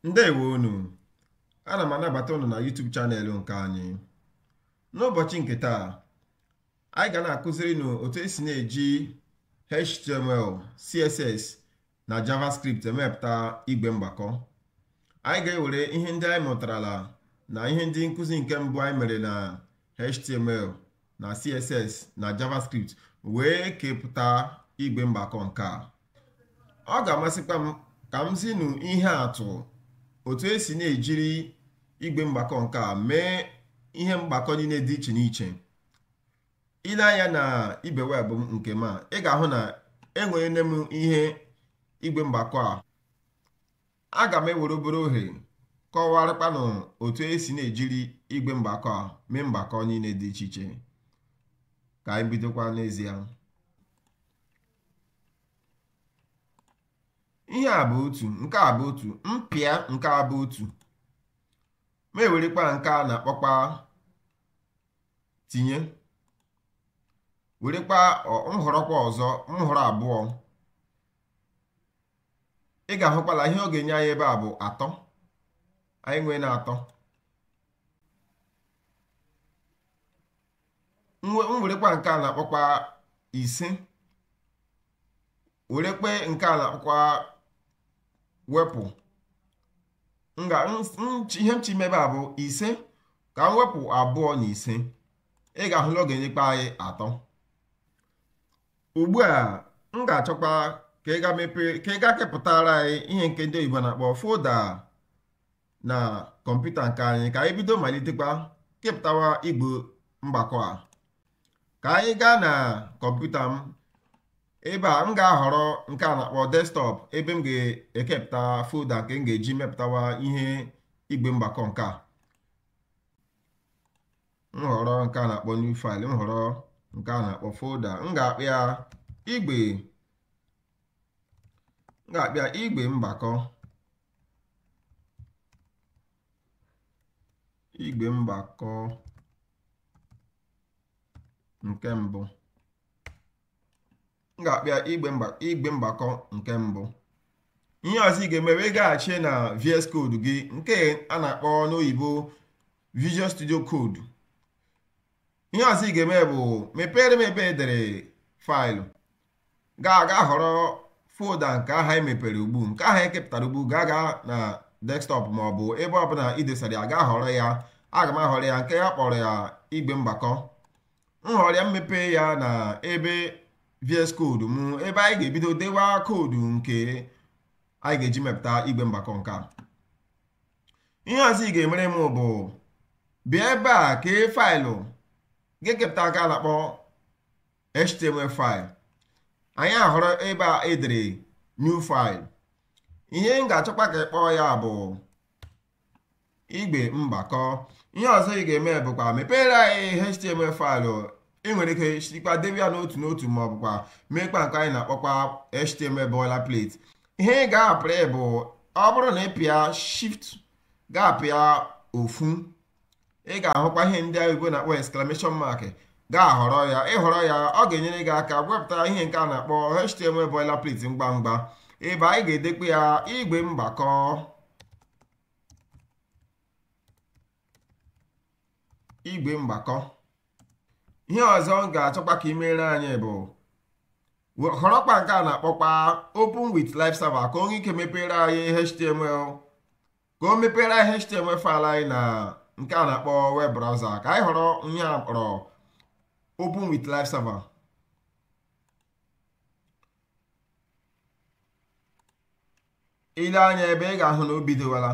ndewo unu ana m anabata unu na YouTube channel nke anyị n'ụbọchị nke taa anyị ga na-akụziri unu otu esi na-eji HTML CSS na JavaScript emepụta igwe mgbakọ anyị ga-ewere ihe ndị anyị mụtarala na ihe ndị nkụzi nke mbụ anyị mere na html na css na javascript wee kepụta igwe mgbakọ nke a ọ ga-amasịkwa m ka m zinụ ihe atụ otu esi na-ejiri igwe mgbakọ nke a mee ihe mgbakọ niile dị iche n'iche i lee anya na ibe webụ m nke ma ị ga-ahụ na enwere m ihe igwe mgbakọ a aga m ewere obere ohere kọwarịkwanụ otu esi na-ejiri igwe mgbakọ a mee mgbakọ niile dị iche iche ka anyị bidokwa n'ezie ihe a bụ otu nke a bụ otu m pịa nke a bụ otu m werekwa nke a na-akpọkwa tinye werekwa m họrọkwa ọzọ m họrọ abụọ ị ga-ahụkwala ihe ọ ga-enye anyị ebe a bụ atọ anyị nweena atọ m werekwa nke a na-akpọkwa ise m werekwa nke a na-akpọkwa wepụ ihe m chọ ime ebe a bụ ise ka m wepụ abụọ na ise ị ga-ahụ na ọ ga-enyekwa anyị atọ ugbu a m ga-achọkwa ka ị ga mepee ka ị ga kepụtara anyị ihe nke ndị oyibo na-akpọ folda na kọmputa nke anyị ka anyị bido malitekwa kepụtawa igwe mgbakọ a ka anyị gaa na kọmputa m ebe a m ga-ahọrọ nke a na-akpọ desktọp ebe m ga-ekepụta folda nke m ga-eji mepụtawa ihe igwe mgbakọ nke a m họrọ nke a na-akpọ new file m họrọ nke a na-akpọ folder m ga-akpọ ya igbe m ga-akpọ ya igbe mgbakọ igbe mgbakọ nke mbụ m ga-akpọ ya igbe mgbakọ nke mbụ ihe ọzọ ị ga-eme bụ ịgaghachi na VS Code gị nke a na-akpọ n'oyibo Visual Studio Code ihe ọzọ ị ga-eme bụ mepere m ebe e dere faịlụ gaa ga họrọ folda nke ahụ anyị mepere ugbu a nke ahụ anyị kepụtara ugbu a gaa na desktọp ma ọ bụ ebe ọbụla i dosara ya ga họrọ ya aga m ahọrọ ya nke a kpọrọ ya igbe mgbakọ m họrọ ya m mepee ya na ebe VS Code m ebe anyị ga-ebido dewa koodu nke anyị ga-eji mepụta igwe mgbakọ nke a ihe ọzọ ị ga-emere m bụ bịa ebe a kee faịlụ ga-ekepụta nke a na-akpọ html file anyị ahọrọ ebe e dere new file ihe m ga-achọkwa ka ị kpọọ ya bụ igwe mgbakọ ihe ọzọ ị ga-eme bụkwa mepeere anyị html faịlụ ị nwere ike sikwa debe ya n'otu n'otu ma ọ bụkwa meekwa nke anyị na-akpọkwa html boilerplate ihe ị ga-apịrị bụ ọ bụrụ na ị pịa shift ga-apịa ofu ị ga-ahụkwa ihe ndị oyibo na-akpọ exclamation mark ị ga-ahọrọ ya ị họrọ ya ọ ga-enyere gị aka wepụta ihe nke a na-akpọ html boilerplate ngwa ngwa ebe anyị ga-edekwa ya igwe mgbakọ igwe mgbakọ ihe ọzọ m ga-achọkwa ka i meere anyị bụ họrọkwa nke a na-akpọkwa open with live server ka o nwee ike mepeere anyị html ka o mepere anyị html faịlụ anyị na nke a na-akpọ web browser ka anyị họrọ ihe a kpọrọ open with live server i lee anya ebe ị ga-ahụ na o bidowala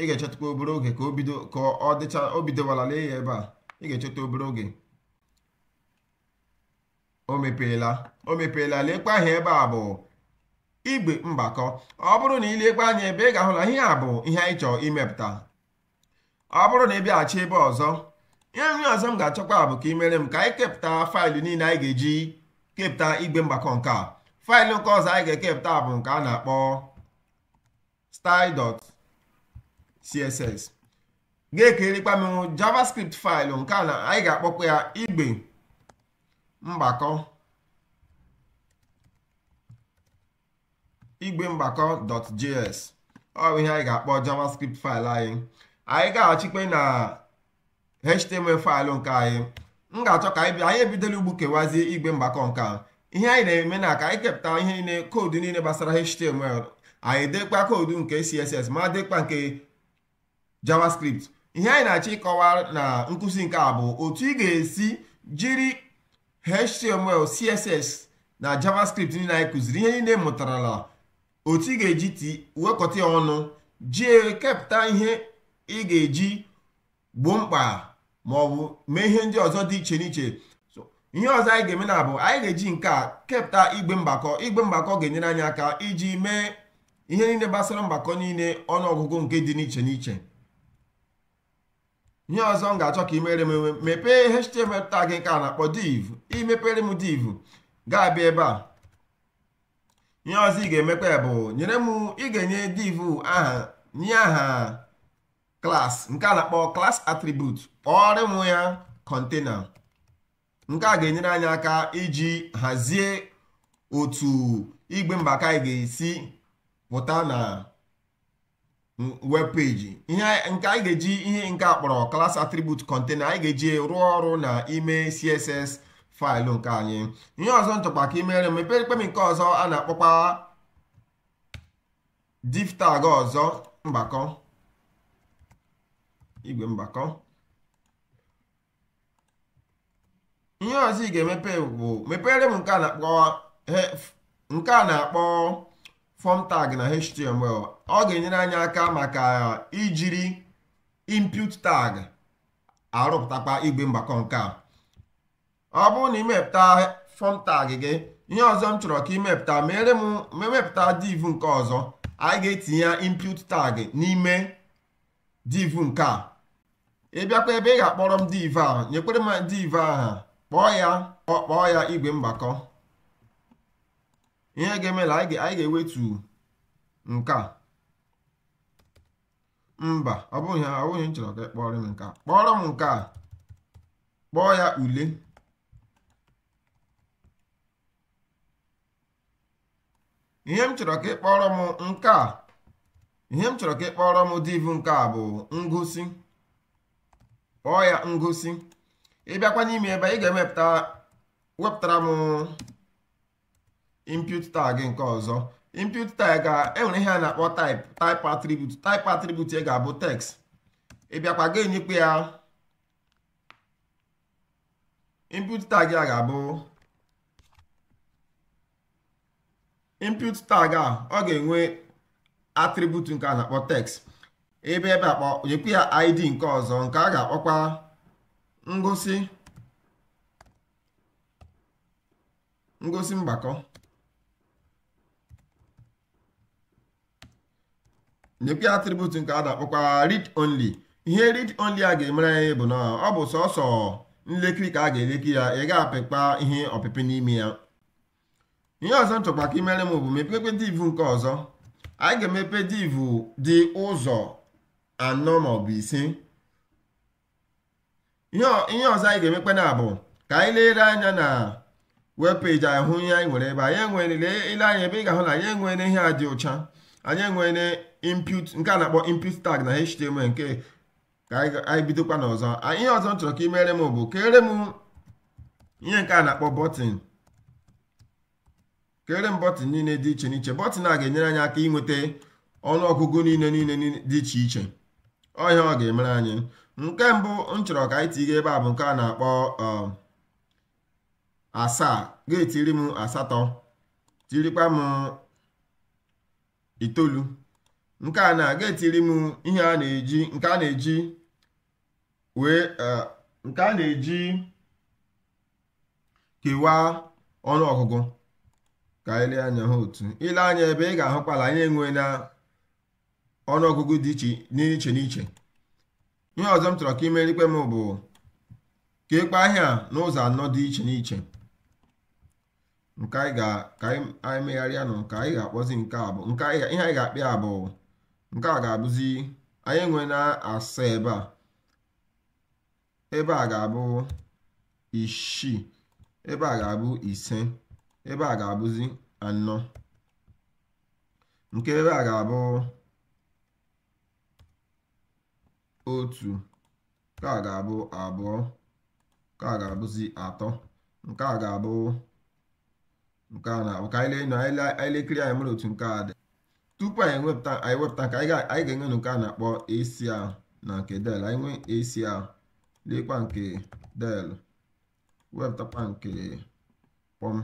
ị ga-echetụkwa obere oge ka o bido ka ọ dịcha o bidowala lee ya ebe a ị ga-echetụ obere oge o mepeela o mepeela lekwa ihe ebe a bụ igwe mgbakọ ọ bụrụ na i lekwa anya ebe ị ga-ahụ na ihe a bụ ihe anyị chọrọ imepụta ọ bụrụ na ị bịaghachi ebe ọzọ ihe nke ọzọ m ga-achọkwa bụ ka i meere m ka anyị kepụta faịlụ niile anyị ga-eji kepụta igwe mgbakọ nke a faịlụ nke ọzọ anyị ga-ekepụta bụ nke a na-akpọ style.css ga-ekerekwa m javascript faịlụ nke a na anyị ga-akpọkwa ya igwe mgbakọ igwe mgbakọ.js ọ bụ ihe anyị ga-akpọ javascript faịlụ anyị anyị gaghachikwa na html faịlụ nke anyị m ga-achọ ka anyị bịa anyị ebidola ugbu kewazie igwe mgbakọ nke a ihe anyị na-eme na ka anyị kepụta ihe niile koodu niile gbasara html anyị dekwa koodu nke css ma dekwa nke javascript ihe anyị na-achọ ịkọwa na nkụzi nke a bụ otu ị ga-esi jiri html css na javascript niile anyị kụziri ihe niile ị mụtarala otu ị ga-eji ti wekọta ya ọnụ jie kepụta ihe ị ga-eji gboo mkpa ma ọ bụ mee ihe ndị ọzọ dị iche n'iche ihe ọzọ anyị ga-eme na bụ anyị ga-eji nke a kepụta igwe mgbakọ igwe mgbakọ ga-enyere anyị aka iji mee ihe niile gbasara mgbakọ niile ọnụọgụgụ nke dị n'iche n'iche ihe ọzọ m ga-achọ ka ị mere m mepee html tag nke a na-akpọ div i mepere m div ga-abịa ebe a ihe ọzọ ị ga-emekwa ya bụ nyere m ị ga-enye div aha nye aha class nke a na-akpọ class attribute kpọọrọ m ya container nke a ga-enyere anyị aka iji hazie otu igwe mgbakọ anyị ga-esi pụta na web page ihe nke anyị ga-eji ihe nke a kpọrọ class attribute container anyị ga-eji rụọ ọrụ na ime css faịlụ nke anyị ihe ọzọ m chọkwa ka i mere mepekwere m nke ọzọ a na-akpọkwa div tag ọzọ mgbakọ igwe mgbakọ ihe ọzọ ị ga-emepe bụ mepere m nke a na-akpọ nke a na-akpọ form tag na html ọ ga-enyere anyị aka maka ijiri input tag arụpụtakwa igwe mgbakọ nke a ọ bụrụ na i mepụta form tag gị ihe ọzọ m chọrọ ka i mepụta mere m mepụta div nke ọzọ anyị ga-etinye input tag n'ime div nke a ị bịakwa ebe ị ga-akpọrọ m div a nyekwere m div aha kpọọ ya kpọọ ya igwe mgbakọ ihe ga-eme na anyị ga-ewetu nke a mba ọ bụghị ọ bụghị ihe m chọrọ ka ị kpọrọ m nke a kpọrọ m nke a kpọọ ya ule ihe m chọrọ ka ị kpọrọ m nke a ihe m chọrọ ka ị kpọrọ m div nke a bụ ngosi kpọọ ya ngosi ị bịakwa n'ime ebe ị ga-emepụta wepụtara m input tag nke ọzọ input tag ga-enwere ihe a na-akpọ type type attribute type attribute ya ga-abụ text ị bịakwa ga-enyekwa ya input tag a ga-abụ input tag a ọ ga-enwe attribute nke a na-akpọ text ebe ebe a kpọ nyekwa ya id nke ọzọ nke a ga-akpọkwa ngosi ngosi mgbakọ nyekwa ya atribut nke a na-akpọkwa read only ihe read only a ga-emere anyị bụ na ọ bụ sọsọ nlekiri ka a ga-eleki ya ị ga-apịkpa ihe ọpịpị n'ime ya ihe ọzọ m chọkwa ka i mere m bụ mepekpe div nke ọzọ anyị ga-emepe div dị ụzọ anọ maọbụ ise ihe ọzọ anyị ga-emekwanụ bụ ka anyị lere anya na web peji hụ ihe anyị nwere ebe anyị enwere i lee anya ebe a ị ga-ahụ na anyị enwere ihe a dị ụcha anyị enwere input nke a na-akpọ input tag na html nke ka anyị bidokwanụ ọzọ ihe ọzọ m chọrọ ka ị mere m bụ kere m ihe nke a na-akpọ bọtịn kere m bọtịn niile dị iche n'iche bọtịn a ga-enyere anyị aka inweta ọnụọgụgụ niile niile dị iche iche ọ ihe ọ ga-emere anyị nke mbụ m chọrọ ka anyị tinye ebe a bụ nke a na-akpọ um, asaa ga-etiri m asatọ tirikwa m itoolu nke anọ ga-etiri m ihe a na-eji nke a na-eji wee uh, nke a na-eji kewaa ọnụọgụgụ ka anyị lee anya ha otu i lee anya ebe a ị ga-ahụkwa na anyị enwena ọnụọgụgụ dị iche n'iche n'iche ihe ọzọ m chọrọ ka i merekwe m bụ keekpa ihe a n'ụzọ anọ dị iche n'iche nke anyị ga ka anyị megharịanụ ka anyị ga-akpọzi nke a bụ nke ihe anyị ga-akpọ ya bụ nke a ga-abụzi anyị enwena asaa ebe a ebe a ga-abụ isii ebe a ga-abụ ise ebe a ga-abụzi anọ nke ebe a ga-abụ otu nke a ga-abụ abụọ nke a ga-abụzi atọ nke a ga-abụ nke a na-abụ ka anyị lee anyị lee- anyị lekiri anya mara otu nke a dị tupu anyị wepụta anyị wepụta nke anyị ga- anyị ga-enwe nke a na-akpọ AC ahụ na nke del anyị nwee AC ahụ leekwa nke del wepụtakwa nke kpọm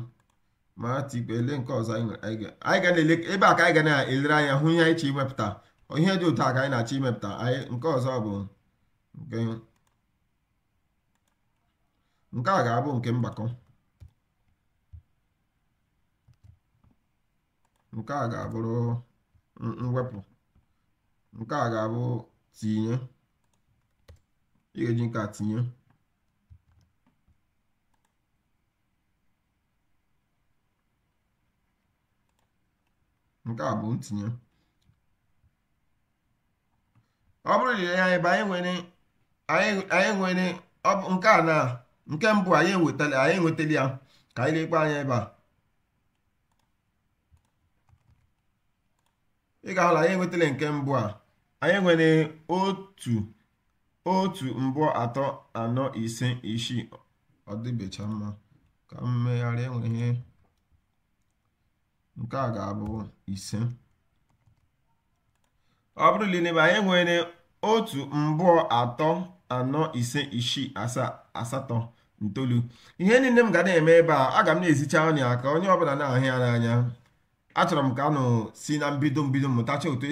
ma tikwa ele nke ọzọ anyị nwere anyị ga- anyị ga na-ele ebe a ka anyị ga na-elere anya hụ ihe anyị chọ imepụta ihe dị otu a ka anyị na-achọ imepụta anyị nke ọzọ bụ nke nke a ga-abụ nke mgbakọ nke a ga-abụrụ mwepụ nke a ga-abụ tinye ị ga-eji nke a tinye nke a bụ ntinye ọ bụrụ na ya ebe anyị nwere anyị nwere nke a na nke mbụ anyị enwetala anyị enwetala ya ka anyị lekwa anya ebe a ị ga-ahụ na anyị enwetala nke mbụ a anyị nwere otu otu mbụọ atọ anọ ise isii ọ dịbecha mma ka m megharịa ihe nke a ga-abụ ise ọ bụrụ na ị nee ebe a anyị nwere otu mbụọ atọ anọ ise isii asaa asatọ ntolu ihe niile m ga na-eme ebe a aga m na-ezicha unu ya ka onye ọbụla na-ahụ ya n'anya achọrọ m ka unu si na mbido mbido mụtacha otu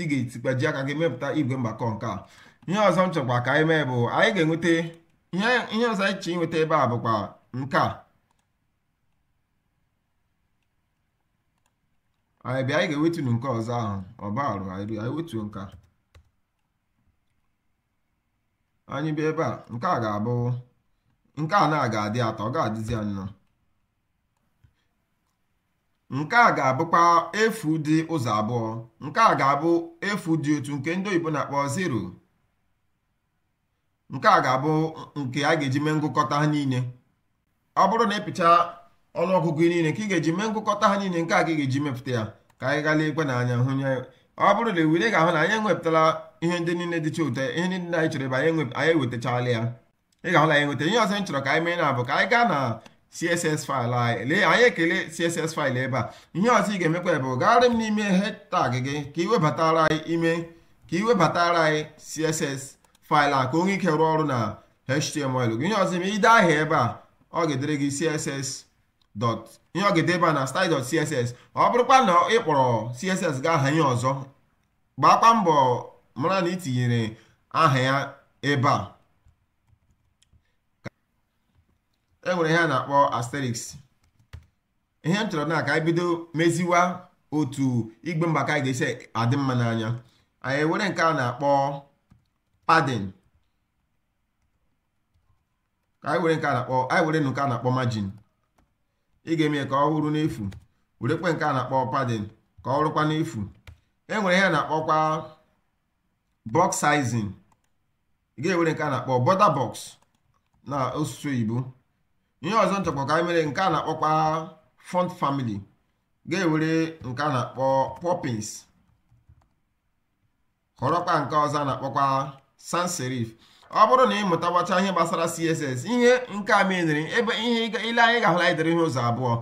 ị ga-esikwa ji aka gị mepụta igwe mgbakọ nke a ihe ọzọ m chọkwa ka anyị mee bụ anyị ga-enweta ihe ọzọ anyị chọrọ inweta ebe a bụkwa nke a anyị bịa anyị ga-ewetunu nke ọzọ ahụ ọ bụrụ anyị wetuo nke a anyị bịa ebe a nke a ga-abụ nke a na-aga adị atọ ọ ga-adịzi anọ nke a ga-abụkwa efu dị ụzọ abụọ nke a ga-abụ efu dị otu nke ndị oyibo na-akpọ zero nke a ga-abụ nke a ga-eji mee ngụkọta ha niile ọ bụrụ na ịpịcha ọnụọgụgụ niile ka ị ga-eji mee ngụkọta ha niile nke a ka ị ga-eji mepụta ya ka anyị gaa lekwa n'anya hụ ya ọ bụrụ na ewere ga-ahụ na anyị enwepụtala ihe ndị niile dịcha ụtọ ihe ndị anyị chọrọ ebe anyị ewetachala ya ị ga-ahụ na anyị nweta ihe ọzọ m chọrọ ka anyị mee na bụ ka anyị gaa na css file anyị lee anyị ekele css file ebe a ihe ọzọ ị ga-emekwa bụ gagharịa n'ime head tag gị ka ị webatara anyị ime ka ị webatara anyị css file a ka o nwee ike rụọ ọrụ na html gị ihe ọzọ ime ide aha ebe a ọ ga-edere gị css dot ihe ọ ga-ede ebe a na style dot css ọ bụrụkwa na ị kpọrọ css gị aha ihe ọzọ gbaakwa mbọ mara na ị tinyere aha ya ebe a e nwere ihe a na-akpọ asterisk ihe m chọrọ na ka anyị bido meziwa otu igwe mgbakọ anyị ga-esi adị mma n'anya anyị were nke a na-akpọ padding ka anyị were nke a na-akpọ anyị were nke a na-akpọ margin ị ga-eme ka ọ wụrụ n'efu werekwe nke a na-akpọ padding ka ọ wụrụkwa n'efu e nwere ihe na-akpọkwa box sizing ị ga-ewere nke a na-akpọ border box n'asụsụ oyibo ihe ọzọ m chọkwa ka anyị mee nke a na-akpọkwa font family ga-ewere nke a na-akpọ poppins họrọkwa nke ọzọ a na-akpọkwa sans serif ọ bụrụ na ị mụtawacha ihe gbasara css ihe nke a menyere ebe a ị lee anya ị ga-ahụ na anyị dere ihe ụzọ abụọ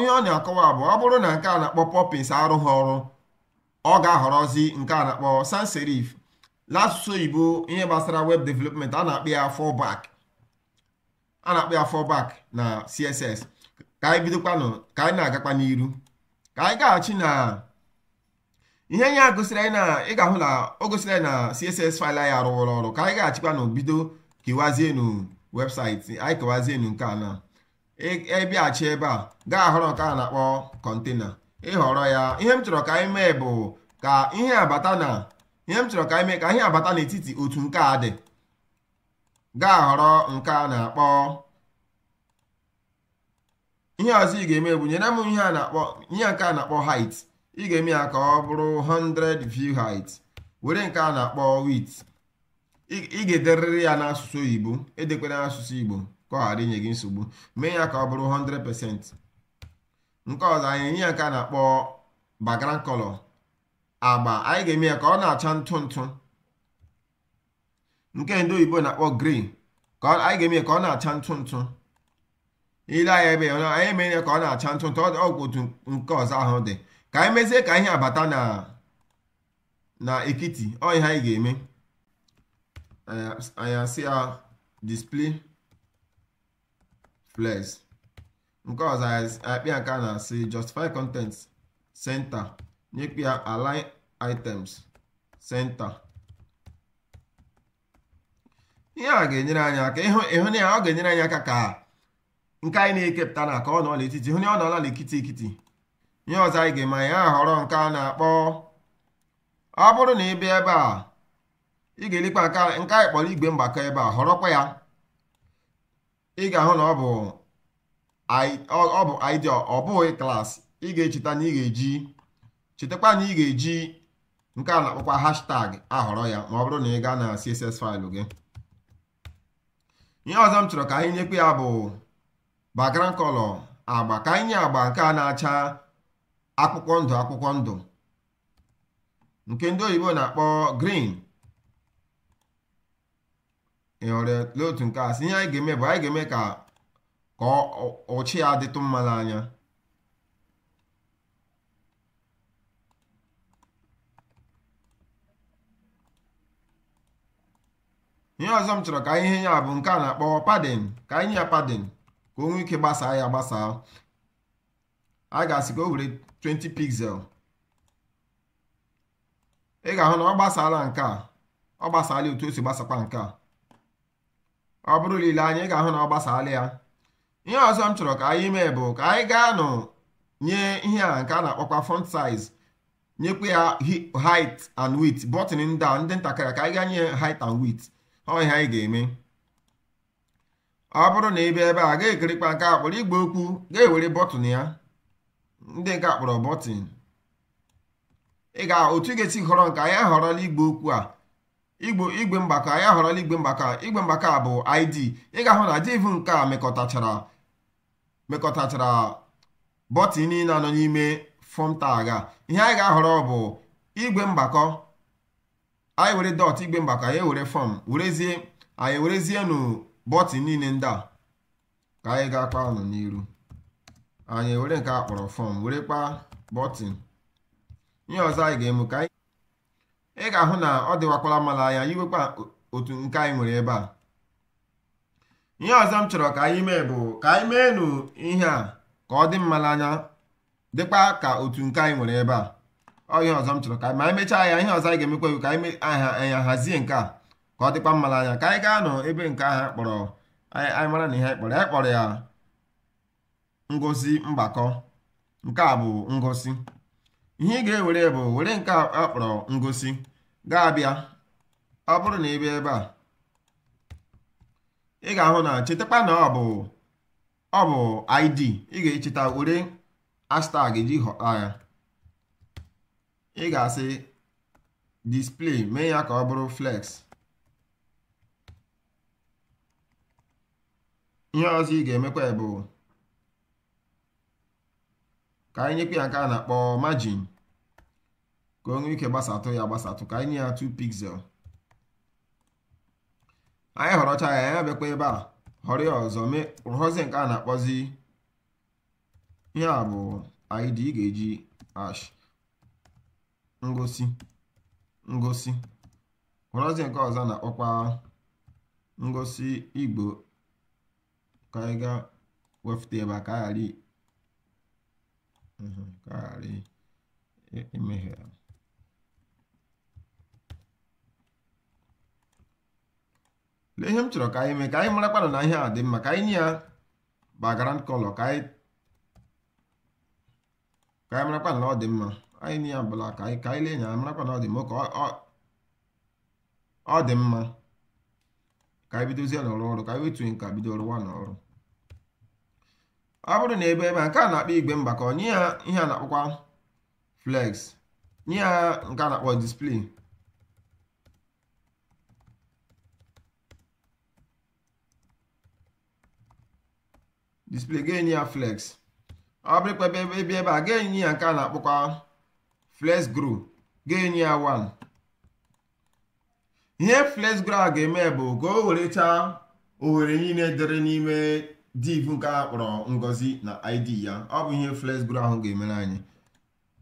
ihe ọ na-akọwa bụ ọ bụrụ na nke a na-akpọ poppins arụghị ọrụ ọ ga-ahọrọzi nke a na-akpọ sans serif n'asụsụ oyibo ihe gbasara web development a na-akpọ ya fallback a na-akpọ ya fallback na css ka anyị bidokwanụ ka anyị na-agakwa n'iru ka anyị gaghachi na ihe anyị a gosiri anyị na ị ga-ahụ na o gosiri anyị na css file anyị arụwụrụ ọrụ ka anyị gaghachikwanụ bido kewazienu website anyị kewazienu nke a na ị bịaghachi e, e ebe a gaa họrọ nke a na-akpọ container ị họrọ ya ihe m chọrọ ka anyị mee bụ ka ihe a bata na ihe m chọrọ ka anyị mee ka ihe a bata n'etiti otu nke a dị gaa họrọ nke a na-akpọ ihe ọzọ ị ga-eme bụ nyere m ihe a na-akpọ ihe nke a na-akpọ height ị ga-eme ya ka ọ bụrụ 100 view height were nke a na-akpọ width ị ga-ederịrị ya n'asụsụ oyibo edekwala n'asụsụ igbo ka ọ ghara inye gị nsogbu mee ya ka ọ bụrụ 100% nke ọzọ anyị enye ya nke a na-akpọ background color agba anyị ga-eme ya ka ọ na-acha ntụ ntụ nke ndị oyibo na-akpọ gray ka anyị ga-eme ya ka ọ na-acha ntụ ntụ ị lee anya ebe a anyị eme ya ka ọ na-acha ntụ ntụ ọ bụ otu nke ọzọ ahụ dị ka anyị mezie ka ihe a bata na na ekiti ọ ihe anyị ga-eme anyị asị ya display flex nke ọzọ nyekwa ya nke a na-asị justify content center nyekwa ya align items center ihe a ga-enyere anyị aka ịhụ na ya ọ ga-enyere anyị aka ka nke anyị na-ekepụta na ka ọ nọ n'etiti hụ na ọ nọla n'ekiti ekiti ihe ọzọ anyị ga-eme anyị ahọrọ nke a na-akpọ ọ bụrụ na ị bịa ebe a ị ga-elekwa nke anyị kpọrọ igwe mgbakọ ebe a họrọkwa ya ị ga-ahụ na ọ bụ ọ bụ ID ọ bụghị class ị ga-echeta na ị ga-eji chetakwa na ị ga-eji nke a na-akpọkwa hashtag ahọrọ ya ma ọ bụrụ na ị gaa na CSS file gị ihe ọzọ m chọrọ ka anyị nyekwa ya bụ background color agba ka anyị nye agba nke a na-acha akwụkwọ ndụ akwụkwọ ndụ nke ndị oyibo na-akpọ green ị họrọ lee otu nke a si ihe anyị ga-eme bụ anyị ga-eme ka ka ụcha ya dịtụ mma n'anya ihe ọzọ m chọrọ ka anyị nye ya bụ nke a na-akpọ padding ka anyị nye ya padding ka o nwee ike gbasaa ya gbasaa a ga-asị ka o were 20 pixel ị ga-ahụ na ọ gbasaala nke a ọ gbasaala otu o si gbasakwa nke a ọ bụrụ na i lee anya ị ga-ahụ na ọ gbasaala ya ihe ọzọ m chọrọ ka anyị mee bụ ka anyị gaa nụ nye ihe a nke a na-akpọkwa font size nyekwa ya height and width bọtịn ndị a ndị ntakịrị ka anyị gaa nye height and width ọ ihe anyị ga-eme ọ bụrụ na ị bịa ebe a ga-ewerekwa nke a kpọrọ igbe okwu ga-ewere bọtịn ya ndị nke a kpọrọ bọtịn ị ga otu ị ga-esi họrọ nke a anyị ahọrọla igbe okwu a igbo igwe mgbakọ anyị ahọrọla igwe mgbakọ igwe mgbakọ a bụ id ị ga-ahụ na div nke a mekọtachara mekọtachara bọtịn niile a nọ n'ime fọm tag a ihe anyị ga-ahọrọ bụ igwe mgbakọ anyị were dọt igwe mgbakọ anyị were fọm werezie anyị werezie nụ bọtịn niile ndị a ka anyị gakwa nụ n'iru anyị were nke a kpọrọ fọm werekwa bọtịn ihe ọzọ anyị ga-eme ka anyị ị ga-ahụ na ọ dịwakwala mma n'anya yiwekwa otu nke anyị nwere ebe a ihe ọzọ m chọrọ ka anyị mee bụ ka anyị mee nụ ihe a ka ọ dị mma n'anya dịkwa ka otu nke anyị nwere ebe a ọ ihe ọzọ m chọrọ ka ma anyị mechaa ya ihe ọzọ anyị ga-emekwa ka anyị hazie nke a ka ọ dịkwa mma n'anya ka anyị gaa nụ ebe nke ahụ a kpọrọ anyị mara na ihe anyị kpọrọ anyị kpọrọ ya ngosi mgbakọ nke a bụ ngosi ihe ị ga-ewere bụ were nke a kpọrọ ngosi ga-abịa ọ bụrụ na ị bịa ebe a ị ga-ahụ na chetakwa na ọ bụ ọ bụ id ị ga-echeta were hashtag ji họta ya ị ga-asị display mee ya ka ọ bụrụ flex ihe ọzọ ị ga-emekwa bụ ka anyị nyekwa ya nke a na-akpọ margin ka o nwee ike gbasatụ ya gbasatụ ka anyị nye ya 2 pixel anyị họrọcha ya ya bịakwa ebe a họrọ ya ọzọ mee họrọzie nke a na-akpọzi ihe a bụ id ị ga-eji hash ngosi ngosi were nke ọzọ na-akpọkwa ngosi igbo ka anyị gaa wefute ebe a ka a ghara mhm, ka a ghara imehie lee ihe m chọrọ ka anyị mee ka anyị marakwanụ na ihe a dị mma ka anyị nye ya background color ka anyị ka anyị marakwa na ọ dị mma anyị nye ya black ka anyị ka anyị lee anya marakwa na ọ dị mma ka ọ dị mma ka anyị bidozie n'ọrụ ọrụ ka anyị wetuo nke a bido rụwa n'ọrụ ọ bụrụ na ebe ebe a nke a na-akpọ igwe mgbakọ nye ya ihe a na-akpọkwa flex nye ya nke a na-akpọ display display ga-enye ya flex ọ bụrụkwa ebe ebe ebe a ga-enye ya nke a na-akpọkwa flex grow ga-enye ya 1 ihe flex grow ahụ ga-eme bụ ka o werechaa ohere niile dịrị n'ime div nke a kpọrọ ngozi na id ya ọ bụ ihe flex grow ahụ ga-emere anyị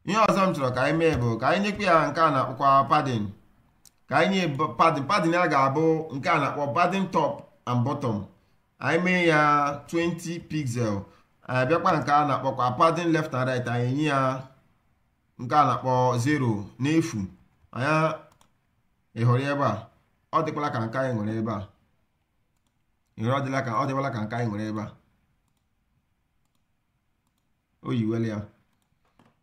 ihe ọzọ m chọrọ ka anyị mee bụ ka anyị nyekwa ya nke a na-akpọkwa padding ka anyị nye padding padding a ga-abụ nke a na-akpọ padding top and bottom anyị mee ya 20 pixel anyị bịakwa nke a na-akpọkwa padding left and right anyị nye ya nke a na-akpọ 0 n'efu anya ị hụrụ ebe a ọ dịkwala ka nke anyị nwere ebe a ị hụrụ ọ dịkwala ka nke anyị nwere ebe a o yiwela ya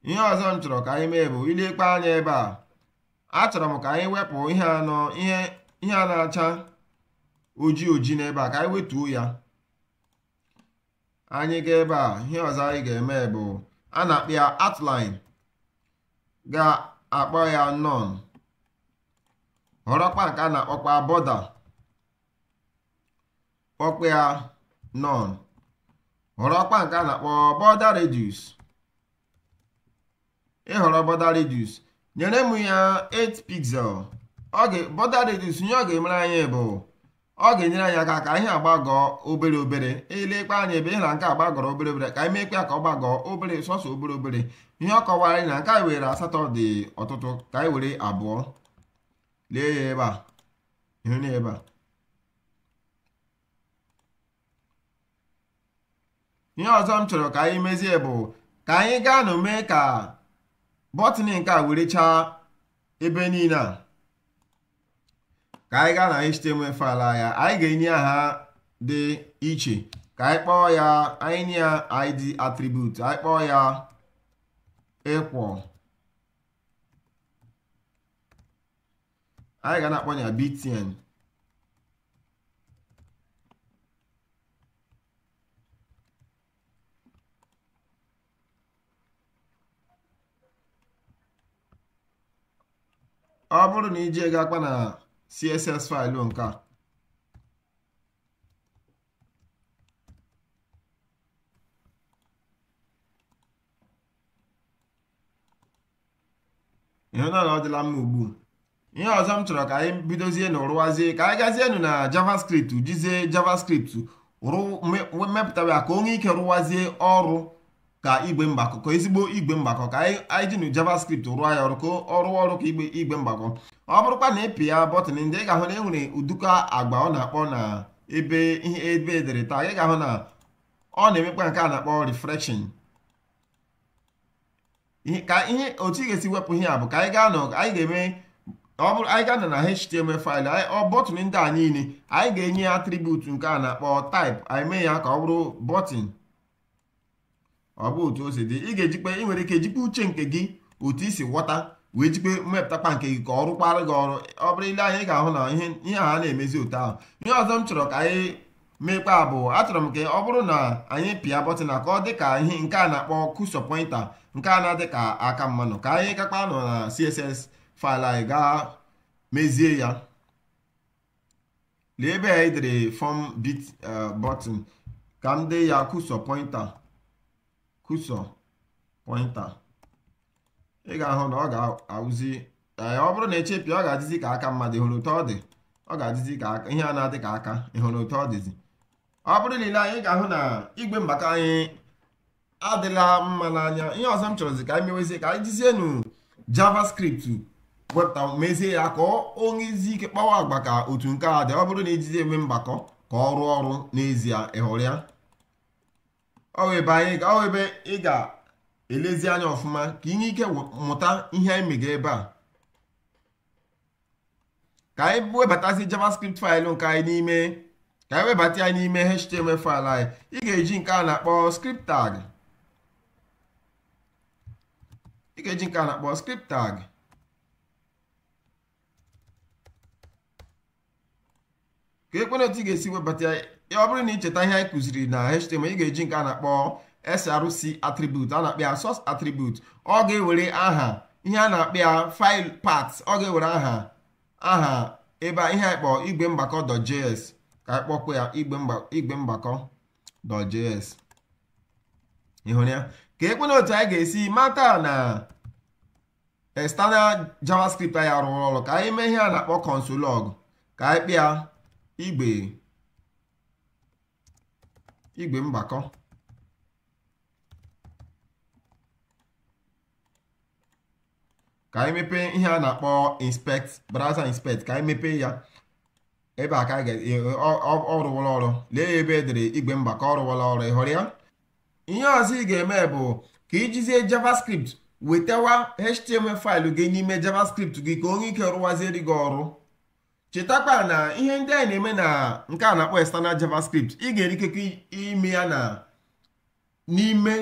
ihe ọzọ m chọrọ ka anyị mee bụ i lekwa anya ebe a achọrọ m ka anyị wepụ ihe a na ihe ihe a na-acha oji oji n'ebe a ka anyị wetuo ya anyị ga ebe a ihe ọzọ anyị ga-eme bụ a na-akpọ ya outline ga-akpọ ya none họrọkwa nke a na-akpọkwa border kpọkwa ya none họrọkwa nke a na-akpọ border radius ị họrọ border radius nyere m ya 8 pixel border radius ihe ọ ga-emere anyị bụ ọ ga-enyere anyị aka ka ihe a gbagọọ obere obere i lekwa anya ebe ị hụ na nke a gbagọrọ obere obere ka anyị meekwa ya ka ọ gbagọọ obere sọsọ obere obere ihe ọ kọwara anyị na nke anyị were asatọ dị ọtụtụ ka anyị were abụọ lee ya ebe a ị hụ na ebe a ihe ọzọ m chọrọ ka anyị mezie bụ ka anyị gaa nụ mee ka button nke a werechaa ebe niile a ka anyị gaa na html file ya anyị ga-enye aha dị iche ka anyị kpọọ ya anyị nye ya id attribute anyị kpọọ ya equal anyị ga na-akpọ ya btn ọ bụrụ na anyị gaakpa na css faịlụ nke a ị hụ na ọ dịla mma ugbu ihe ọzọ m chọrọ ka anyị bidozienụ rụwazie ka anyị gazienụ na javascript jizie javascript mepụtawa ya ka o nwee ike rụwazie ọrụ ka igwe mgbakọ ka ezigbo igwe mgbakọ ka anyị jinụ javascript rụọ ya ọrụ ka ọ rụọ ọrụ ka igwe igwe mgbakọ ọ bụrụkwa na ị pịa bọtịn ndị ị ga-ahụ na enwere ụdụkọ agwa ọ na-akpa na ebe ihe ebe edere taa ị ga-ahụ na ọ na-emekwa nke a na-akpọ refresh ka ihe otu ị ga-esi wepụ ihe a bụ ka anyị gaanụ anyị ga-eme ọ bụrụ anyị ga-anọ na html faịlụ ọ bọtịn ndị a niile anyị ga-enye ya atribut nke a na-akpọ type anyị mee ya ka ọ bụrụ bọtịn ọ bụ otu o si dị ị ga-ejikpe ị nwere ike ejikpe uche nke gị otu i si ghọta wee jikpe mepụtakpa nke gị ka ọ rụkwara gị ọrụ ọ bụrụ i lee anya ị ga-ahụ na ihe a na-emezi otu ahụ ihe ọzọ m chọrọ ka anyị meekpa bụ achọrọ m ka ọ bụrụ na anyị pịa bọtịn a ka ọ dị ka ihe nke a na-akpọ cursor pointer nke a na-adị ka aka mmadụ ka anyị gaakpanụ na css faịlụ anyị gaa mezie ya na ebe anyị dere fọm bit eh, bọtịn ka m dee ya cursor pointer cursor pointer ị ga-ahụ na ọ ga-awụzi eh, ọ bụrụ na echepịa ọ ga-adịzi ka aka mmadụ ịhụrụ otu ọ dị ọ ga-adịzi ka aka ihe a na-adị ka aka ịhụrụ otu ọ dịzi ọ bụrụ na i lee anya ị ga-ahụ na igwe mgbakọ anyị adịla mma n'anya ihe ọzọ m chọrọzi ka anyị mewezie ka anyị jizienu javascript wepụta mezie ya ka ọ nwezie ike kpawa agwa ka otu nke a dị ọ bụrụ na ejizi eme mgbakọ ka ọ rụọ ọrụ n'ezie ịhụrụ ya ọ ebe anyị ọ ebe ị ga-elezi anya ọfụma ka ị nwee ike mụta ihe anyị mega ebe a ka anyị webatazi javascript faịlụ nke anyị n'ime ka anyị webata ya n'ime html faịlụ anyị ị ga-eji nke a na-akpọ script tag ị ga-eji nke a na-akpọ script tag keekwanụ otu ị ga-esi webata ya ọ bụrụ na ị cheta ihe anyị kụziri na html ị ga-eji nke a na-akpọ src attribute a na-akpọ ya source attribute ọ ga-ewere aha ihe a na-akpọ ya file path ọ ga-ewere aha aha ebe ihe anyị kpọọ igwe mgbakọ.js ka anyị kpọkwa ya igwe mgbakọ.js ịhụrụ ya keekwanụ otu anyị ga-esi mata na external javascript anyị arụwala ọrụ ka anyị mee ihe a na-akpọ console log ka anyị kpịa igbe igbe mgbakọ ka anyị mepee ihe a na-akpọ inspect browser inspect ka anyị mepee ya ebe a ka ọ rụwala ọrụ lee ya ebe e dere igwe mgbakọ ọ rụwala ọrụ ị hụrụ ya ihe ọzọ ị ga-eme bụ ka i jizie javascript wetawa html faịlụ gị n'ime javascript gị ka o nwee ike rụwaziere gị ọrụ chetakwa na ihe ndị anyị na-eme na nke a na-akpọ external javascript ị ga-enwe ikekwa ime ya na n'ime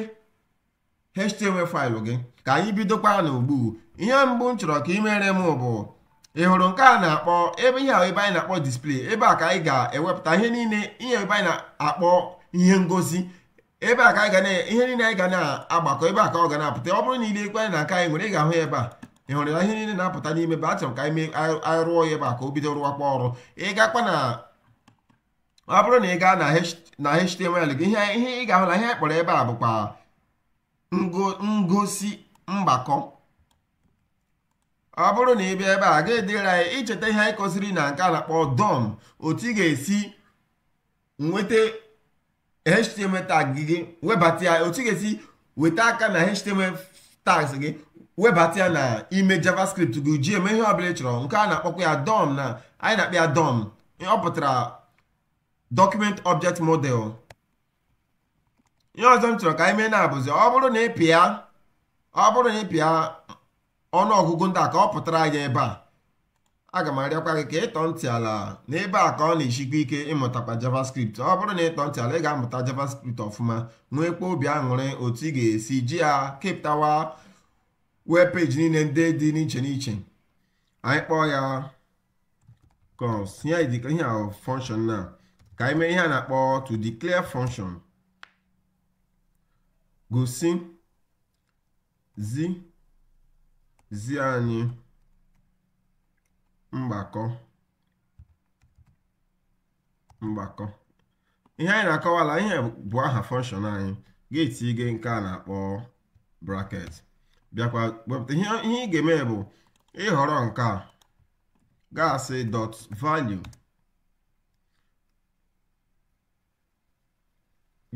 html faịlụ gị ka anyị bidokwa na ugbu a ihe mbụ m chọrọ ka i meere m bụ ị hụrụ nke a na-akpọ ebe ihe ebe anyị na-akpọ display ebe a ka anyị ga-ewepụta ihe niile ihe ebe anyị na-akpọ ihe ngosi ebe a ka anyị ga na ihe niile anyị ga na-agbakọ ebe a ka ọ ga na-apụta ọ bụrụ na i leekwa anya na nke anyị nwere ị ga-ahụ ya ebe a ị hụrụ ya ihe niile na-apụta n'ime ebe a chọrọ ka anyị rụọ ya ebe a ka o bido rụwakwa ọrụ ị gakwa na ọ bụrụ na ị gaa na html gị ihe ihe ị ga-ahụ na ihe anyị kpọrọ ebe a bụkwa ngosi mgbakọ ọ bụrụ na ị bịa ebe a ga-edere anyị i cheta ihe anyị kụziri na nke a na-akpọ dom otu ị ga-esi nweta html tag gị webata ya otu ị ga-esi weta aka na html tags gị webata ya na ime javascript gị ji eme ihe ọbụla ị chọrọ nke a na-akpọkwa ya dom na anyị na-akpọ ya dom ọ pụtara document object model ihe ọzọ m chọrọ ka anyị mee na-abụzi ọ bụrụ na ị pịa ọ bụrụ na ị pịa ọnụ ọgụgụ ndị a ka ọ pụtara anyị ebe a aga m arịọkwa gị ka ị tọọ ntị ala n'ebe a ka ọ na-esikwa ike ịmụtakwa javascript ọ bụrụ na ị tọọ ntị ala ị ga-amụta javascript ọfụma nweekwa obi aṅụrị otu ị ga-esi ji ya kepụtawa web peji niile ndị dị n'iche n'iche anyị kpọọ ya const ihe a dịka ihe ahụ function na ka anyị mee ihe a na-akpọ to declare function gosi zi zi anyị mgbakọ mgbakọ ihe anyị na-akọwala ihe bụ aha function anyị ga-etinye nke a na-akpọ bracket bịakwa wepụta ihe ị ga-eme bụ ịhọrọ nke a ga-asị dot value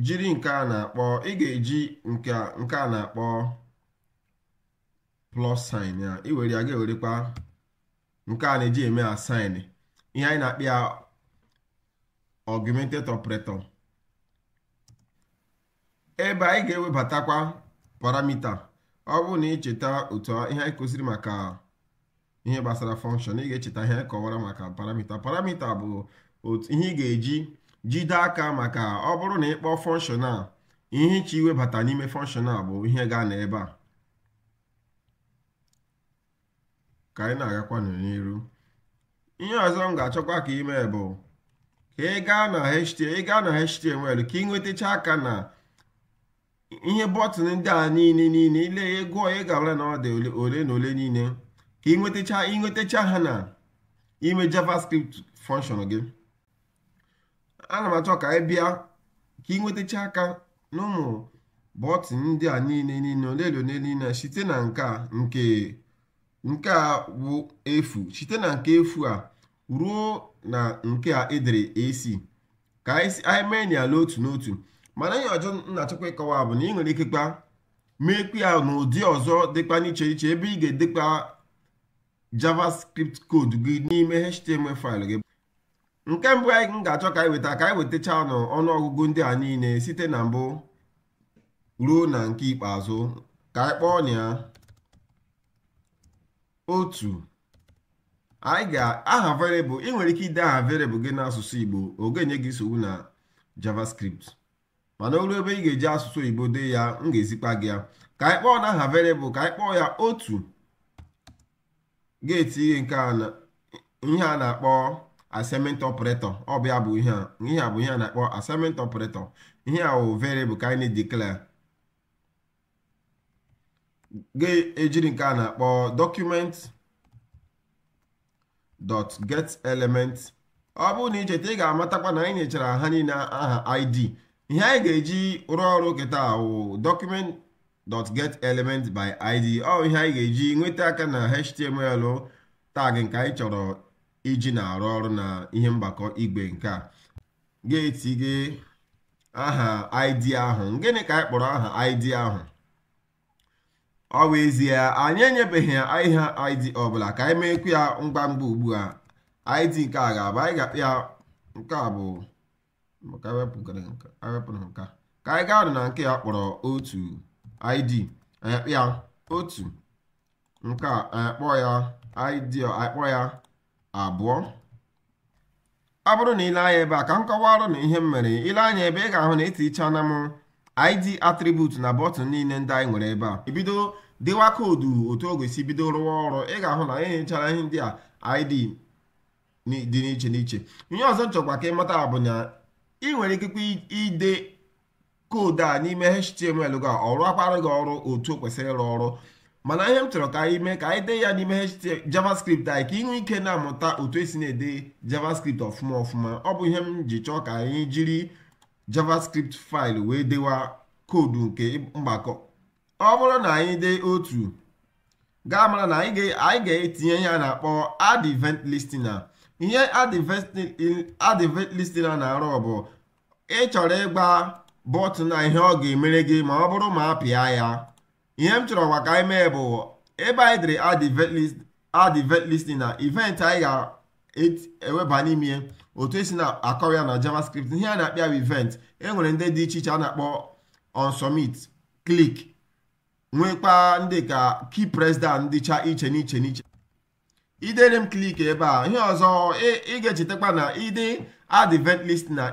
jiri nke a na-akpọ ị ga-eji nke a na-akpọ plus sign ya i were ya ga-ewerekwa nke a na-eji eme assign ihe anyị na-akpọ ya augmented operator ebe anyị ga-ewebatakwa paramita ọ bụrụ na ị cheta otu ihe anyị kụziri maka ihe gbasara function ị ga-echeta ihe anyị kọwara maka paramita paramita bụ otu ihe ị ga-eji jide aka maka ọ bụrụ na ị kpọọ function a ihe ị chọ iwebata n'ime function a bụ ihe ga-anọ ebe a ka anyị na-agakwanụ n'iru ihe ọzọ m ga-achọkwa ka i mee bụ ka ị gaa na HTML ị gaa na HTML ka ị nwetacha aka na ihe bọtụn ndị a niile niile i lee ya gụọ ya ị ga-amara na ọ dị ole na ole niile ka ị nwetacha ị nwetacha ha na ime JavaScript function gị ana m achọ ka anyị bịa ka ị nwetacha aka n'ụmụ bọtịn ndị a niile niile ole na ole niile site na nke a nke nke a bụ efu site na nke efu a ruo na nke e dere AC ka anyị mee ya ala otu n'otu mana ihe ọzọ m na-achọkwa ịkọwa bụ na ị nwere ikekwa meekwa ya n'ụdị ọzọ dịkwa n'iche iche ebe ị ga-edekwa javascript code gị n'ime html faịlụ gị nke mbụ anyị m ga-achọ ka anyị weta ka anyị wetachanụ ọnụọgụgụ ndị a niile site na mbụ ruo na nke ikpeazụ ka anyị kpọọnụ ya otu anyị ga aha variable ị nwere ike ide aha variable gị n'asụsụ Igbo ọ gaghị enye gị nsogbu na JavaScript mana o ruo ebe ị ga-eji asụsụ oyibo dee ya m ga-ezikwa gị ya ka anyị kpọọnụ aha variable ka anyị kpọọ ya otu ga-etinye nke a na ihe a na-akpọ assignment operator ọ bụ ya bụ ihe a ihe a bụ ihe a na-akpọ assignment operator ihe a wụ variable ka anyị declare ga-ejiri nke a na-akpọ document dot get element ọ bụrụ na ị cheta ị ga-amatakwa na anyị nyechara ha niile aha id ihe anyị ga-eji rụọ ọrụ kịta wụ document dot get element by id ọ ihe anyị ga-eji nweta aka na html tag nke anyị chọrọ iji na-arụ ọrụ na ihe mgbakọ igwe nke a ga-etinye aha id ahụ gịnị ka anyị kpọrọ aha id ahụ ọ bụ ezie anyị enyebeghị ya ihe id ọbụla ka anyị meekwu ya ngwa ngwa ugbu a id nke a ga-abụ anyị ga-akpọ ya nke a bụ maka awepụgara nke awepụrụ nke ka anyị gaa na nke a kpọrọ otu id anyị akpọ ya otu nke a anyị akpọ ya id anyị kpọ ya abụọ ọ bụrụ na i lee anya ebe a ka m kọwaara unu ihe m mere i lee anya ebe a ị ga-ahụ na etinyechaala m id attribute na bọtụn niile ndị anyị nwere ebe a e bido dewa koodu otu ọ ga-esi bido rụwa ọrụ ị ga-ahụ na anyị nyechara ihe ndị a id dị n'iche n'iche ihe ọzọ m chọkwa ka ị mata bụ na ị nwere ikekwa ide koodu a n'ime html gị ọ rụọkwara gị ọrụ otu o kwesịrị ịrụ ọrụ mana ihe m chọrọ ka anyị mee ka anyị dee ya n'ime javascript anyị ka ị nwee ike na-amụta otu esi na-ede javascript ọfụma ọfụma ọ bụ ihe m ji chọọ ka anyị jiri javascript file wee dewa koodu nke mgbakọ ọ bụrụ na anyị dee otu ga-amara na anyị ga-etinye ihe a na-akpọ add event listener ihe add event listener na-arụ bụ ị chọrọ ịgba bọtụn a ihe ọ ga-emere gị ma ọ bụrụ ma a pịa ya ihe m chọrọ ugbu a ka anyị mee bụ ebe anyị dere add event add event listener event anyị ga-eweba n'ime ya otu esi na-akọwa ya na javascript ihe a na-akpọ ya bụ event e nwere ndị dị iche iche a na-akpọ on submit click nwekwa ndị ka key press down dịcha iche n'iche n'iche edere m click ebe a ihe ọzọ ị ga-echetakwa na i dee add event listener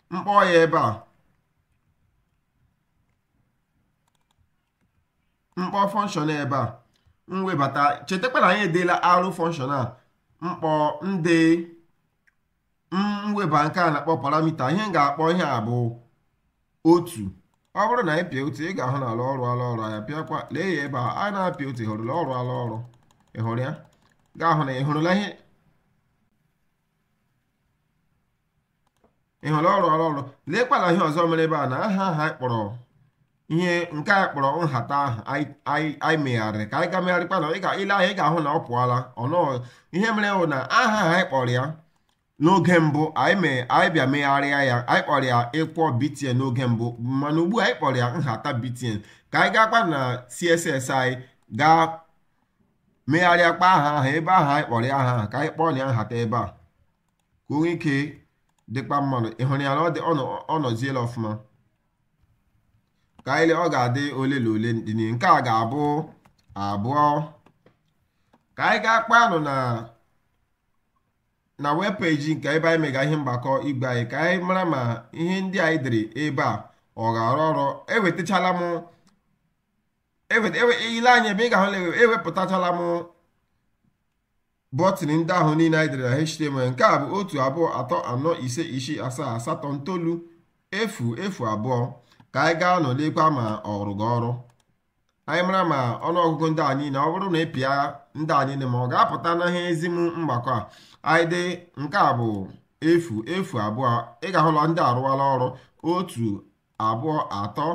m kpọọ ya ebe a m kpọọ function ebe a m webata chetakwa na anyị edeelarị function a m kpọọ ndị m weba nke a na-akpọ parameter ihe m ga-akpọ ihe a bụ otu ọ bụrụ na anyị pịa otu ị ga-ahụ n'ala ọ rụọla ọrụ ya pịakwa lee ya ebe a a na-apịa otu ị hụrụla ọ rụọla ọrụ ị hụrụ ya ga-ahụ na ị hụrụla ihe ị hụrụ ọ rụrụ ọrụ leekwala ihe ọzọ mere ebe a na aha aha kpọrọ ihe nke anyị kpọrọ nhata ahụ anyị megharịrị ka anyị ga megharịkwa na ile ahụ ị ga-ahụ na ọ pụọla ọnụ ihe mere bụ na aha aha anyị kpọrọ ya n'oge mbụ anyị bịa megharịa ya anyị kpọrọ ya equal btn n'oge mbụ mana ugbu a anyị kpọrọ ya nhata btn ka anyị gaakpa na css anyị gaa megharịakpa aha aha ebe ahụ anyị kpọrọ ya aha aha ka anyị kpọọnụ ya nhata ebe a ka o nwee ike dịkpa mma nụ ị hụrụ ya na ọ dị- ọ nọ- ọ nọziela ọfụma ka anyị lee ọ ga-adị ole na ole dị n'ihu. nke a ga-abụ abụọ ka anyị gaakpanụ na na web page nke ebe anyị mega ihe mgbakọ igwe anyị ka anyị mara ma ihe ndị anyị dere ebe a ọ ga-arụ ọrụ ewetachala m i lee anya ebe a ị ga-ahụ ewepụtachala m bọtịn ndị ahụ niile anyị dere na html nke a bụ otu abụọ atọ anọ ise isii asaa asatọ ntolu efu efu abụọ ka anyị gaanụ lekwa ma ọ rụga ọrụ anyị mara ma ọnụọgụgụ ndị a niile ọ bụrụ na ị pịa ndị a niile ma ọ ga-apụta na ihe ezi m mgbakọ a anyị dị nke a bụ efu efu abụọ ị ga-ahụ na ndị a arụwala ọrụ otu abụọ atọ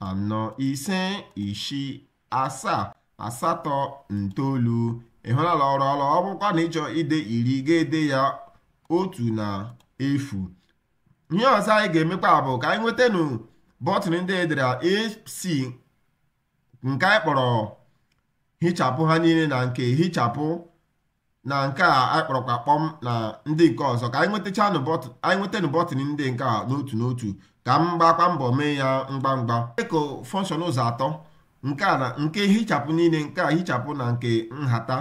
anọ ise isii asaa asatọ itoolu ị hụnala ọ rụọla ọrụ ọ bụkwa na ị chọọ ide iri ị ga-ede ya otu na efu ihe ọzọ anyị ga-emekwa bụ ka anyị nwetanụ bọtịn ndị e dere ac nke anyị kpọrọ hichapụ ha niile na nke hichapụ na nke a anyị kpọrọkwa kpọm na ndị nke ọzọ ka anyị nwetachanụ anyị nwetanụ bọtịn ndị nke a n'otu n'otu ka m gbakwa mbọ mee ya ngwa ngwa dịka fọnshọn ụzọ atọ nke a na nke hichapụ niile nke a hichapụ na nke nhata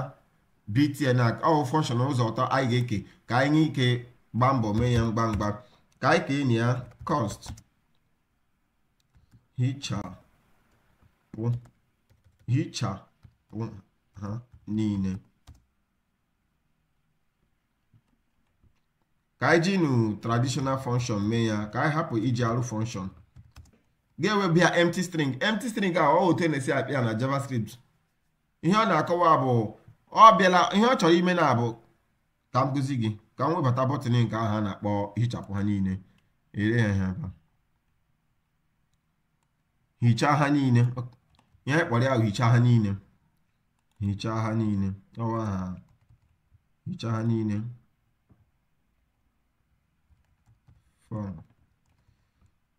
btn ọ fọnshọn ụzọ atọ anyị ga-eke ka anyị nwee ike gbaa mbọ mee ya ngwa ngwa ka anyị keenụ ya const hichapụ hichapụ ha niile ka anyị jinụ traditional function mee ya ka anyị hapụ iji arrow function ga-eweba ya empty string empty string a ọ otu a na-esi apị ya na javascript ihe ọ na-akọwa bụ ọ bịala ihe ọ chọrọ ime na-abụ ka m gosi gị ka m webata bọtịn nke ahụ a na-akpọ hichapụ ha niile ere ha ha hichaa ha niile ihe anyị kpọrọ ya hichaa ha niile hichaa ha niile ọwa ha hichaa ha niile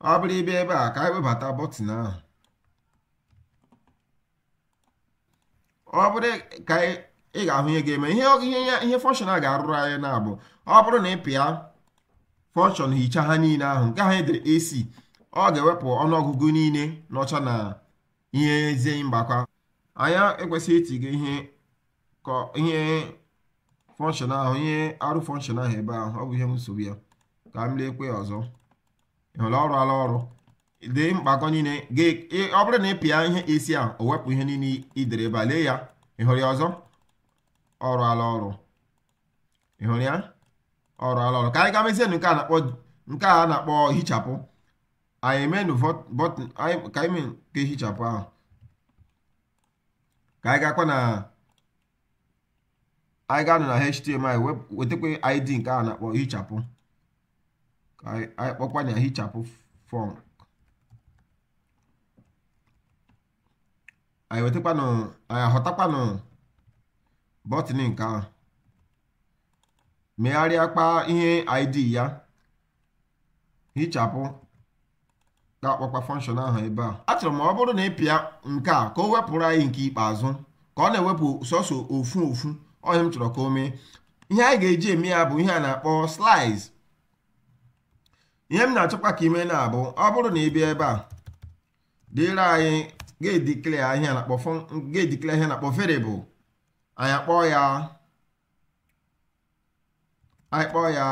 ọ bụrụ ị bịa ebe a ka anyị webata bọtịn ahụ ọ bụrụ ka ị ga-ahụ ihe ga-eme ihe ihe fọnshọn a ga-arụrụ anyị na-abụ ọ bụrụ na ị pịa fọnshọn hicha ha niile ahụ nke ahụ e dere AC ọ ga-ewepụ ọnụọgụgụ niile nọcha na ihe ezi mgbakọ a anyị ekwesịghị itinye ihe ka ihe fọnshọn ahụ ihe arrow fọnshọn ahụ ebe ahụ ọ bụ ihe nsogbu ya ka m leekwa ọzọ ị hụla ọ rụala ọrụ dị mgbakọ niile ọ bụrụ na ị pịa ihe AC ahụ o wepụ ihe niile i dere ebe a lee ya ị hụrụ ya ọzọ ọ rụala ọrụ ị hụrụ ya ọ rụala ọrụ ka anyị gaa mezie nke a na-akpọ nke a na-akpọ hichapụ anyị emenụ bọtịn ka anyị mee nke hichapụ ahụ ka anyị gakwa na anyị gaanụ na html wetakwa id nke a na-akpọ hichapụ ka anyị kpọkwa ya hichapụ fọn anyị wetakwanụ anyị ahọtakwanụ bọtịn nke ahụ megharịakwa ihe id ya hichapụ ga-akpọkwa fọnshọn ahụ ebe a achọrọ m ọ bụrụ na ị pịa nke a ka o wepụrụ anyị nke ikpeazụ ka ọ na-ewepụ sọsọ ofu ofu ihe m chọrọ ka o mee ihe anyị ga-eji eme ya bụ ihe a na-akpọ slice ihe m na-achọkwa ka i mee na-abụ ọ bụrụ na ị bịa ebe a dịrị anyị ga-edikle ihe a na-akpọ variable anyị akpọọ ya anyị kpọọ ya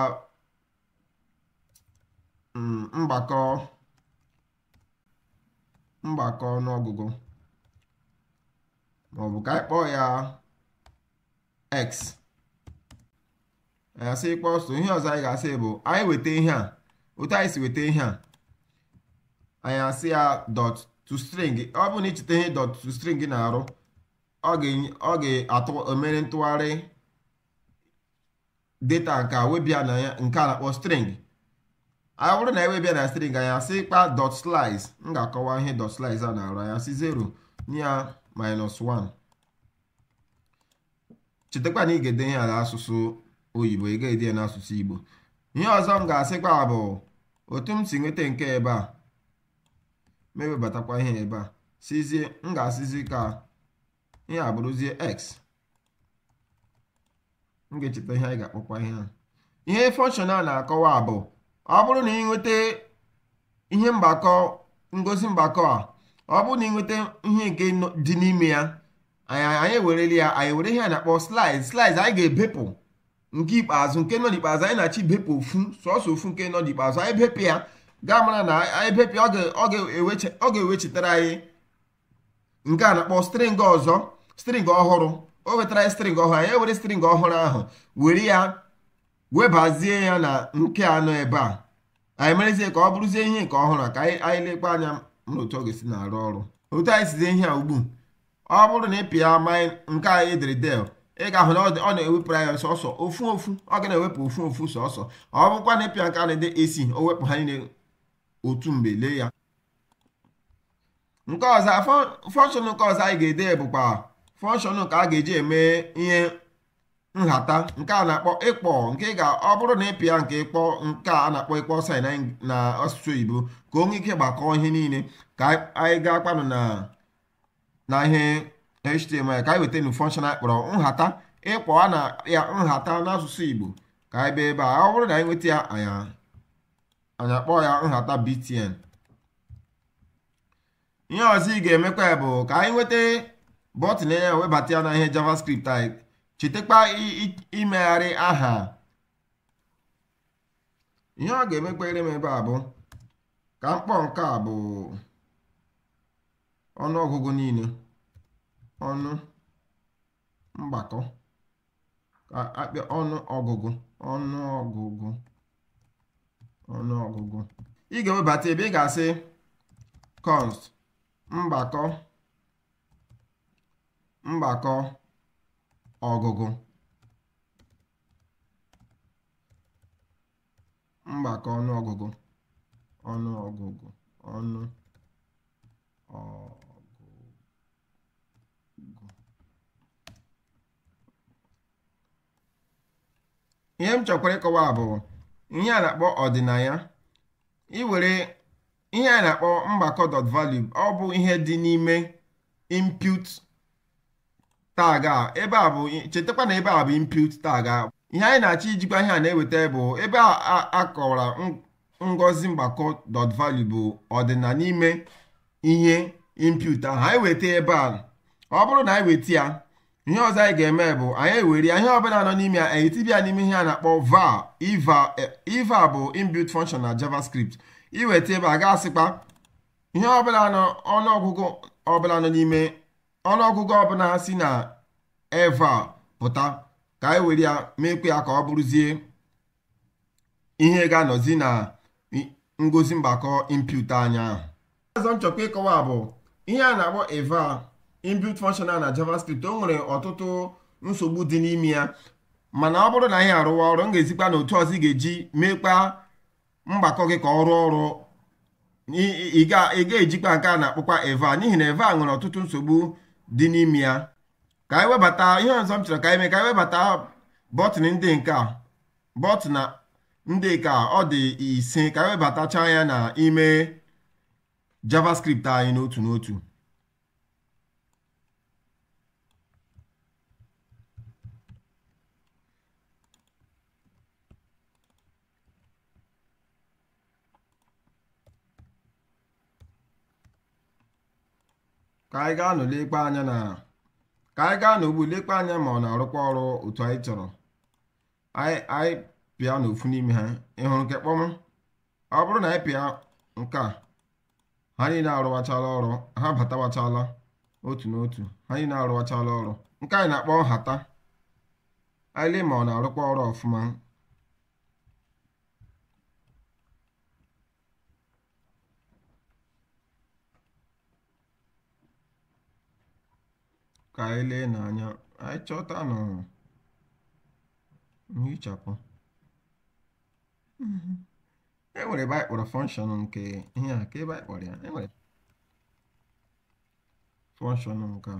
mm, mgbakọ mgbakọ ọnụọgụgụ maọbụ ka anyị kpọọ ya x anyị asị equal so ihe ọzọ anyị ga-asị bụ anyị weta ihe a otu anyị si weta ihe a anyị asị ya dot to string ọ bụrụ na i cheta ihe dot to string na-arụ ọ ga-emere ntụgharị data nke a weba ya na nke a na-akpọ string ọ bụrụ na e weba ya na string anyị asịkwa dot slice m ga-akọwa ihe dot slice a na-arụ anyị asị 0 nye ya minus 1 chetakwa na ị ga-ede ihe a n'asụsụ oyibo ị ga-ede ya n'asụsụ igbo ihe ọzọ m ga-asịkwa bụ otu m si nweta nke ebe a m ewebatakwa ihe ebe a sịzie m ga-asịzi ka ihe a bụrụzie x m ga-echeta ihe anyị ga-akpọkwa ihe a ihe fọnshọn a na-akọwa bụ ọ bụrụ na ị nweta ihe mgbakọ ngosi mgbakọ a ọ bụrụ na ị nweta ihe nke dị n'ime ya anyị ewerele ya anyị were ihe a na-akpọ slice slice anyị ga-ebepụ nke ikpeazụ nke nọ n'ikpeazụ anyị na-achọ ibepụ ofu sọsọ ofu nke nọ n'ikpeazụ anyị bepụ ya ị ga-amara na anyị bepụ ya ọ ga-ewechitara anyị nke a na-akpọ string ọzọ string ọhụrụ o wetara anyị string ọhụrụ anyị ewere string ọhụrụ ahụ were ya webazie ya na nke a nọ ebe a anyị merezie ka ọ bụrụzie ihe nke ọhụrụ ka anyị lekwa anya n'otu ọ ga-esi na-arụ ọrụ otu anyị sizie ihe a ugbu ọ bụrụ na ị pịa mine nke a e dere del ị ga-ahụ na ọ na-ewepụrụ anyị sọsọ ofu ofu ọ ga na-ewepụ ofu ofu sọsọ ọ bụkwa na ị pịa nke a e dere ac o wepụ ha niile otu mgbe lee ya nke ọzọ fọnshọn nke ọzọ anyị ga-ede bụkwa fọnshọn ka a ga-eji eme ihe nhata nke a na-akpọ equal nke ga ọ bụrụ na ị pịa nke equal nke a na-akpọ equal sign na asụsụ oyibo ka o nwee ike gbakọọ ihe niile ka anyị gaakwanụ na na ihe html ka anyị weta nu function anyị kpọrọ nhata ịkpọwa na ya nhata n'asụsụ igbo ka anyị bịa ebe a ọ bụrụ na anyị nweta ya anyị anyị akpọọ ya nhata btn ihe ọzọ ị ga-emekwa bụ ka anyị nweta bọtịn ya webata ya na ihe javascript anyị chetakwa i- i- imegharị aha ihe ọ ga-emekwere m ebe a bụ ka m kpọọ nke a bụ ọnụ ọgụgụ niile ọnụ mgbakọ ka a pịa ọnụ ọgụgụ ọnụ ọgụgụ ọnụ ọgụgụ ị ga-ewebata ebe ị ga-asị const mgbakọ mgbakọ ọgụgụ mgbakọ ọnụọgụgụ ọnụọgụgụ ọnụ ọgụgụ ihe m chọkwara ịkọwa bụ ihe a na-akpọ ọdịnaya iwere ihe a na-akpọ mgbakọ dot value ọ bụ ihe dị n'ime input tag a ebe a bụ chetakwa na ebe a bụ input tag a ihe anyị na-achọ ijikwa ihe a na-eweta bụ ebe a akọwara ngosi mgbakọ dot value bụ ọdịna n'ime ihe input ahụ anyị weta ebe a ọ bụrụ na anyị weta ya ihe ọzọ anyị ga-eme bụ anyị ewere ihe ọbụla nọ n'ime ya anyị etiba ya n'ime ihe a na-akpọ eval eval bụ inbuilt function na javascript iweta ebe a ga-asịkwa ihe ọbụla nọ n'ime ọnụọgụgụ ọbụla si na eval pụta ka anyị were ya meekwa ya ka ọ bụrụzie ihe ga-anọzi na ngosi mgbakọ input anyị ahụ ọzọ m chọkwara ịkọwa bụ ihe a na-akpọ eval inbuilt function na javascript o nwere ọtụtụ nsogbu dị n'ime ya mana ọ bụrụ na anyị arụwa ọrụ m ga-ezikwa na otu ọzọ ị ga-eji meekwa mgbakọ gị ka ọ rụọ ọrụ ị ga-ejikwa nke a na-akpọkwa eval n'ihi na eval nwere ọtụtụ nsogbu dị n'ime ya ka anyị webata ihe ọzọ m chọrọ ka anyị mee ka anyị webata bọtịn ndị nke a bọtịn ndị nke a ọ dị ise ka anyị webatacha ya na ime javascript anyị n'otu n'otu ka anyị gaanụ lekpa anya na ka anyị gaa n'ugbu lekwa anya ma ọ na-arụkwa ọrụ otu anyị chọrọ anyị pịanụ ofu n'ime ha ị hụrụ nke kpọm ọ bụrụ na anyị pịa nke a ha niile arụwachala ọrụ ha batawachala otu n'otu ha niile arụwachala ọrụ nke anyị na-akpọ nhata anyị lee ma ọ na-arụkwa ọrụ ọfụma ka anyị lee n'anya anyị chọtanụ nhichapụ e nwere ebe anyị kpọrọ function nke ihe a ka ebe anyị kpọrọ ya e nwere function nke a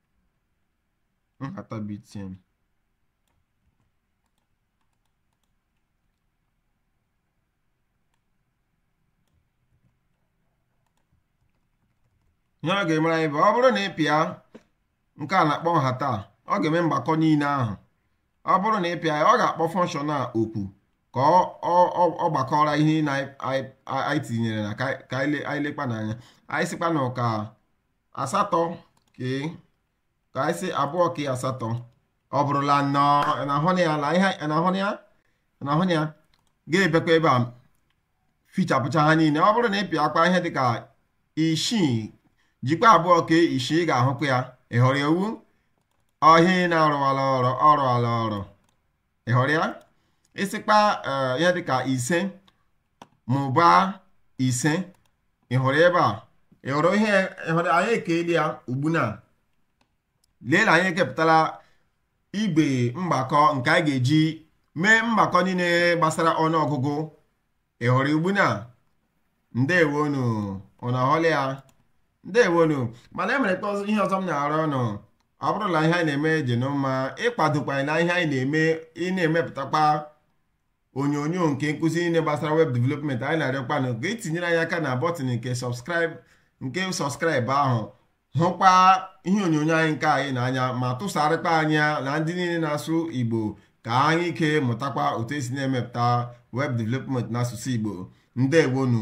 nhata BTN ihe ọ ga-emere anyị bụ ọ bụrụ na ị pịa nke a na-akpọ nhata ọ ga-eme mgbakọ niile ahụ ọ bụrụ na ị pịa ya ọ ga-akpọ function a oku ka ọ gbakọọrọ ihe na anyị tinyere na ka anyị lekpa n'anya anyị sịkwanụ ka asatọ ke ka anyị sị abụọ ke asatọ ọ bụrụla anọ na-ahụ ya na ihe na-ahụ ya na-ahụ ya ga-ebekwa ebe a fichapụcha ha niile ọ bụrụ na ị pịakwa ihe dịka isii jikwa abụọ ke isii ga-ahụkwa ya ị hụrụ ya ọ wụ ihe a na-arụwala ọrụ ọ rụwala ọrụ ị hụrụ ya ị sịkpa ihe dịka ise mụbaa ise ị hụrụ ebe a ị hụrụ ihe ị hụrụ anyị ekela ya ugbu na lee na anyị ekepụtala igbe mgbakọ nke anyị ga-eji mee mgbakọ niile gbasara ọnụọgụgụ ị hụrụ ugbu na ndewonu ụnụ ahụla ya ndewonu mana emere ka ihe ọzọ m na-arịọ ụnụ ọ bụrụ na ihe anyị na-eme dị ụnụ mma ị kwadokwa na ihe anyị na-eme ị na-emepụtakwa onyonyo nke nkụzi niile gbasara web development anyị na-arịọkwa ụnụ ka e tinyere anyị aka na button nke subscribe nke subscribe ahụ hụkwa ihe onyonyo anyị nke anyị n'anya ma tụsarịkwa anyị ya na ndị niile na-asụ Igbo ka ha nwee ike mụtakwa otu esi na-emepụta web development n'asụsụ Igbo ndewonu